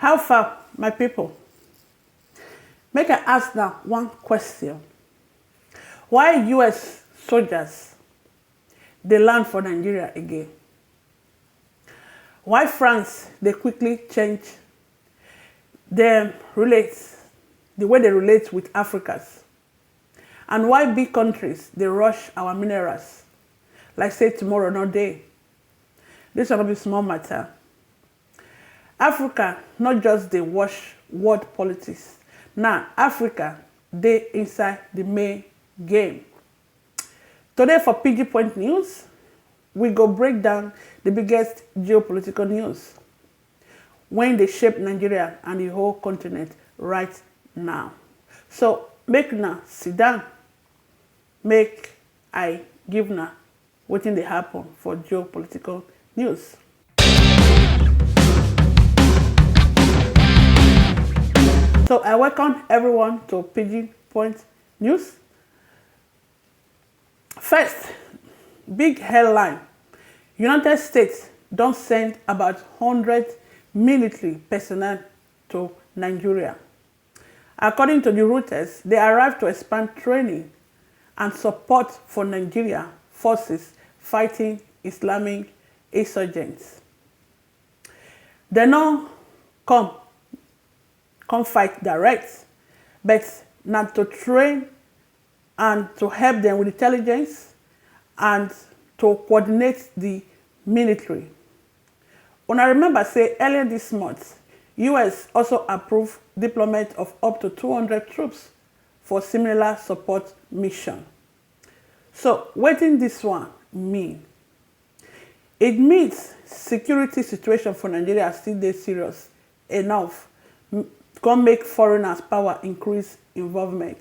How far my people, make I ask na one question, why US soldiers dey land for Nigeria again? Why France dey quickly change dem relate, the way dey relate with Africans? And why big countries dey rush our minerals like say tomorrow no dey? This one no be small matter. Africa no just dey watch world politics now, Africa dey inside the main game. Today for Pidgin Point News, we go break down the biggest geopolitical news wey dey shape Nigeria and the whole continent right now. So make una sit down, make I give una Wetin dey happen for geopolitical news? So I welcome everyone to Pidgin Point News. First, big headline. United States don send about 100 military personnel to Nigeria. According to di Reuters, dey arrive to expand training and support for Nigeria forces fighting Islamic insurgents. Dem no come come fight direct, but na to train and to help dem with intelligence and to coordinate di military. Una remember say earlier dis month, us also approve deployment of up to two hundred troops for similar support mission. So wetin dis one mean? It means security situation for Nigeria still dey serious enough come make foreigners power increase involvement.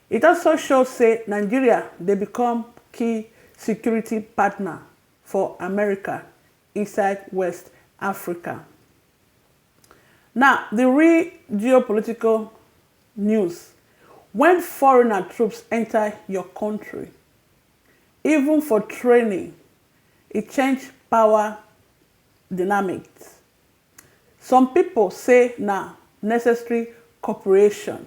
It also show say Nigeria dey become key security partner for America inside West Africa. Now, the real geopolitical news, when foreigner troops enter your country, even for training, it change power dynamics. Some people say na necessary cooperation.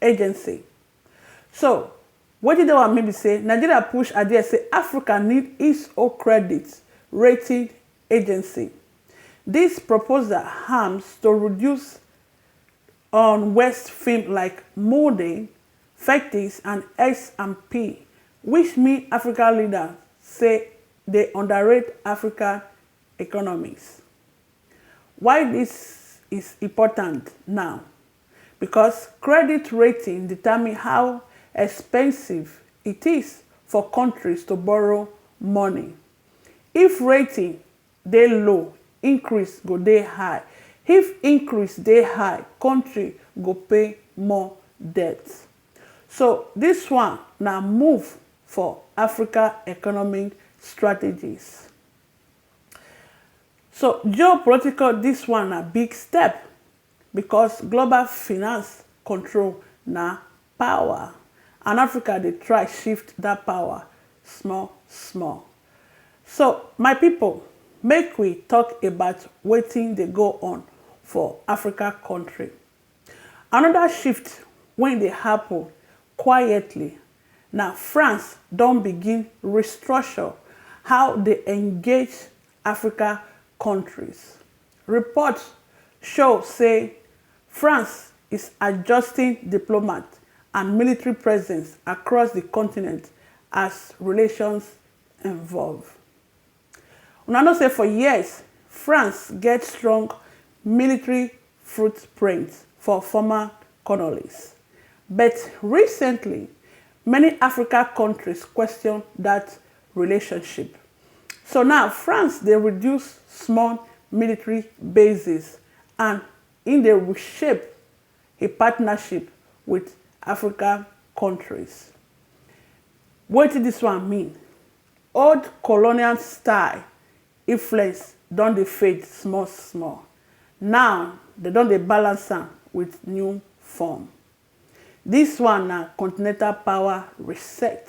Agency. So, wetin dey wan mean be say Nigeria push adie say Africa need its own credit rating agency. Dis proposal hams to reduce on West film like Mode, Fectis and S and P which mean Africa leader say dey underrate Africa economies. Why dis is important now? because credit rating determine how expensive it is for countries to borrow money. If rating dey low, increase go dey high. If increase dey high, country go pay more debt. So this one na move for Africa economic strategies. So geopolitical this one na big step Because global finance control na power and Africa dey try shift that power small small. So my people make we talk about wetin dey go on for Africa country. Another shift wey dey happen quietly na France don begin restructure how dey engage Africa countries. Reports show say France is adjusting diplomat and military presence across di continent as relations evolve. Una know say for years, France get strong military footprint for former colonies. But recently, many Africa kontris question dat relationship. So now France dey reduce small military bases and im dey reshape im partnership wit African kontris. Wetin dis one mean? Old colonial style influence don dey fade small small, now dem don dey balance am wit new form. Dis one na continental power reset.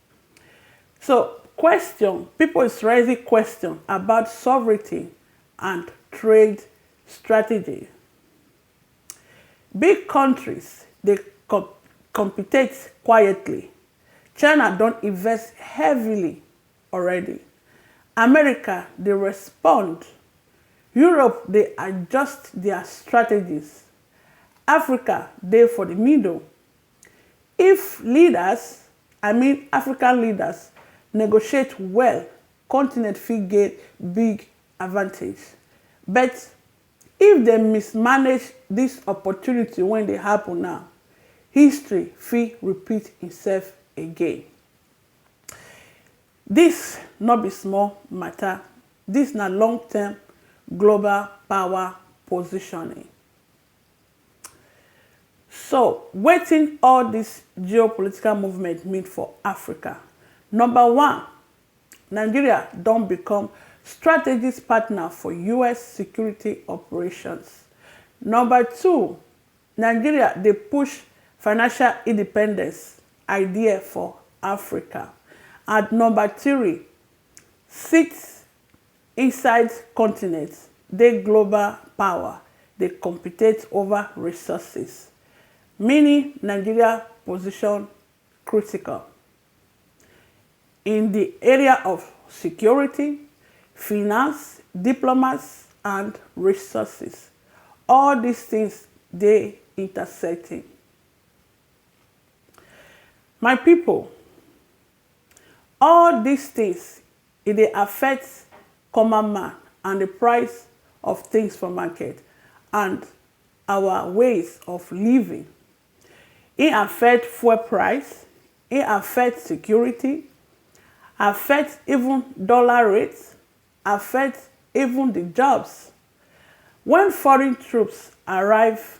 So, question, pipo is raising question about sovereignty and trade strategy. Big kontris dey competate quietly, China don invest heavily already, America dey respond, Europe dey adjust dia strategies, Africa dey for di middle If leaders, I mean African leaders, negotiate well, continent fit gain big advantage. But if dem mismanage dis opportunity wey dey happen now, history fit repeat imself again. Dis no be small mata, dis na long term global power positioning. So, wetin all dis geopolitical movement mean for Africa? Number one, Nigeria don become strategist partner for us security operations. Number two, Nigeria dey push financial independence idea for Africa. And number three, sit Inside continent dey global power dey compitate over resources mini Nigeria position critical in di area of security, finance, diplomas and resources. All dis tins dey intersecting. My pipo, all dis tins E dey affect common man and di price of tins for market and our ways of living. E affect fuel price, e affect security, affect even dollar rate, affect even di jobs. Wen foreign troops arrive.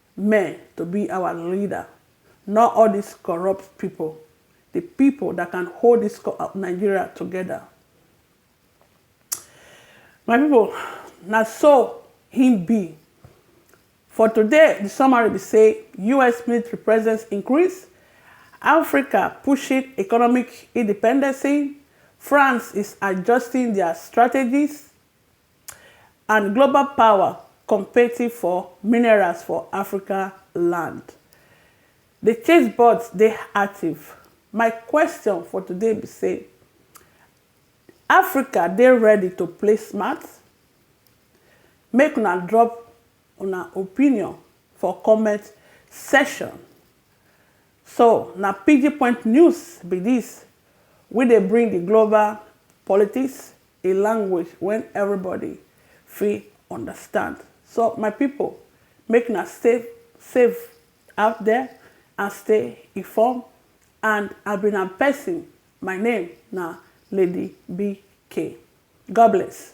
men to be our leader not all this corrupt people the people that can hold this Nigeria together my people na so him be for today the summary be say us military presence increase africa pushing economic independency france is adjusting their strategies and global power competing for minerals for African land. The chase bots dey active. My question for today be say, Africa dey ready to play smart? Make una drop una opinion for comment section. So na pidginpoint news be this wey dey bring the global politics, a language wen everybody fit understand so my pipo make na stay safe out there and stay inform and I be na person my name na lady BK God bless.